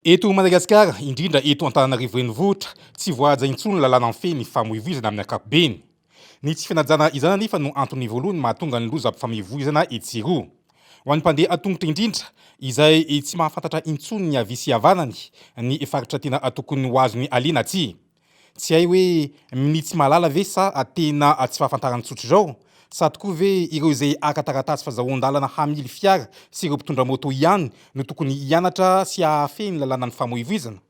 Eto Madagasikara, indrindra eto Antananarivo Renivohitra, tsy voahaja intsony ny lalàna mifehy ny famoivoizana amin'ny ankapobeny. Ny tsy fanajana izany anefa no antony voalohany mahatonga ny lozam-pifamoivoizana etsy sy eroa. Ho an'ny mpandeha an-tongotra indrindra, izay tsy mahafantatra intsony ny havia sy havanany, ny faritra tena tokony ho azony aleha na tsia, Tsy hay hoe minitsy mahalala ve sa tena tsy fahafantarana tsotra izao? Sa tokoa ve ireo izay haka taratasy fazahoan-dalana hamily fiara sy ireo mpitondra moto ihany no tokony hianatra sy hahafehy ny lalànan'ny famoivoizana?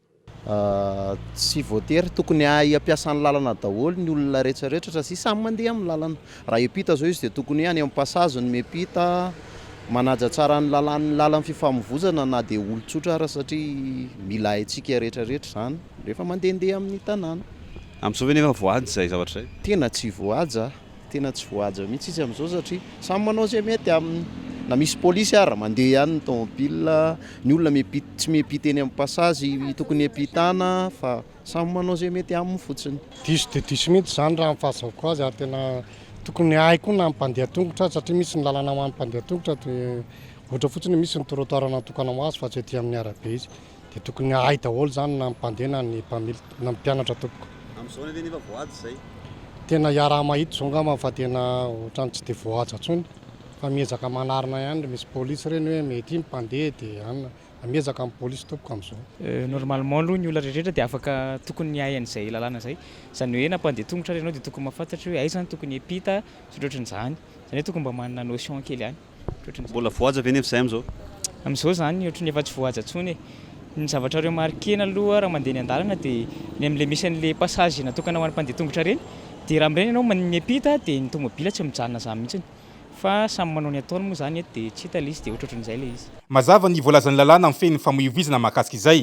Tsy voatery, tokony hahay hampiasa ny lalana daholo ny olona retraretra satsia samy mandeha amin'ny lalana. Raha hiampita izao izy dia tokony hoe any amin'ny passage no miampita, manaja tsara ny lalàn'ny lalan'ny fifamovozana na dia olon-tsotra ara satria mila haintsika retraretra izany. Rehefa mandehandeha amin'ny tanàna. Amin'izao ve nefa voahaja izay zavatra izay? Tena tsy voahaja, tena tsy voahaja mihitsy izy amin'izao satria samy manao izay mety aminy. Na misy polisy ara, mandeha ihany ny taomobilina, ny olona miampita, tsy miampita eny amin'ny pasazy tokony hiampitana fa samy manao izay mety aminy fotsiny. Diso dia diso mihitsy izany raha ny fahazahoako azy ary tena tokony hahay koa na ny mpandeha tongotra satria misy ny lalana ho an'ny mpandeha tongotra dia ohatra fotsiny hoe misy ny trottoir natokana ho azy fa tsy aty amin'ny arabe izy. Dia tokony hahay daholo izany na ny mpandeha na ny mpamily na ny mpianatra tompoko. Amin'izao anie ve nefa voahaja izay? Tena iaraha-mahita izao angamba fa tena ohatran'ny tsy dia voahaja intsony fa miezaka manarina ihany ry misy polisy ireny hoe mety ny mpandeha dia an, miezaka ny polisy tompoko amin'izao. Normalement aloha ny olona rehetra dia afaka tokony hiahy an'izay lalàna izay. Izany hoe na mpandeha tongotra ary ianao dia tokony mahafantatra hoe aiza no tokony hiampita sy ny ohatran'izany. Izany hoe tokony mba manana notion kely ihany. Mbola voahaja ve nefa izay amin'izao? Amin'izao izany ohatry ny efa tsy voahaja intsony e! Ny zavatra remarquer-na aloha raha mandeha eny an-dalana dia ny amin'ilay misy an'ilay passage natokana ho an'ny mpandeha tongotra ireny dia raha mireny ianao man- miampita dia ny tomobila tsy mijanona izany mihitsiny fa samy manao ny ataony moa izany eto dia tsy hita ilay izy dia ohatrohatran'izay ilay izy. Mazava ny voalazan'ny lalàna mifehy ny famoivoizana mahakasika izay.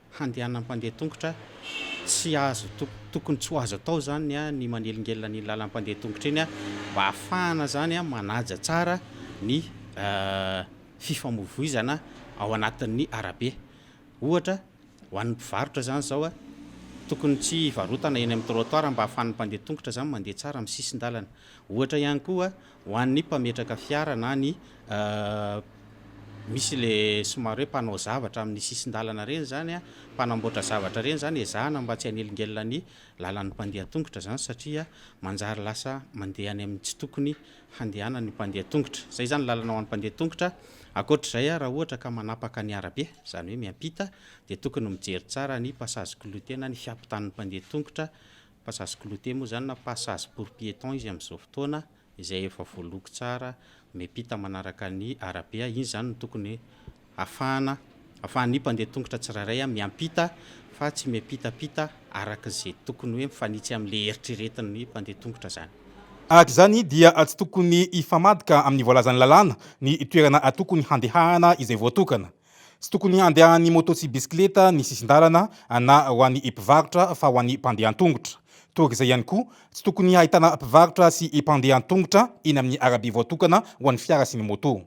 handehanan'ny mpandeha tongotra tsy azo tokony tsy ho azo atao zany ny manelingelina an'iny lalam-pandeha tongotra iny mba hahafahana zany manaja tsara ny fifamoivoizana ao anatin'ny arabe ohatra ho an'ny mpivarotra zany zao tokony tsy hivarotana eny amin'ny trottoir mba hahafahan'ny mpandeha tongotra zany mandeha tsara amin'ny sisin-dalana ohatra ihany koa Ho an'ny mpametraka fiara na ny misy le somary hoe mpanao zavatra amin'ny sisin-dalana ireny izany an, mpanamboatra zavatra ireny izany, ezahana mba tsy hanelingelina ny lalan'ny mpandeha tongotra izany satria manjary lasa mandeha any amin'ny tsy tokony handehanan'ny mpandeha tongotra. Izay izany ny lalana ho an'ny mpandeha tongotra. Ankoatr'izay an, raha ohatra ka manapaka ny arabe, izany hoe miampita, dia tokony mijery tsara ny passage clouté na ny fiampitan'ny mpandeha tongotra Passage clouté moa izany na passage pour piéton izy amin'izao fotoana izay efa voaloko tsara miampita manaraka ny arabe. Iny izany no tokony hahafahana, hahafahan'ny mpandeha tongotra tsirairay miampita fa tsy miampitampita araka izay tokony hoe mifanitsy amin'ilay eritreretin'ny mpandeha tongotra izany. Araka izany dia tsy tokony hifamadika amin'ny voalazan'ny lalàna ny toerana tokony handehana izay voatokana. Tsy tokony handehan'ny moto sy bisikileta ny sisin-dalana na ho an'ny mpivarotra fa ho an'ny mpandeha an-tongotra. Torak' izay ihany koa, tsy tokony hahitana mpivarotra sy mpandeha an-tongotra eny amin'ny arabe voatokana ho an'ny fiara sy ny moto.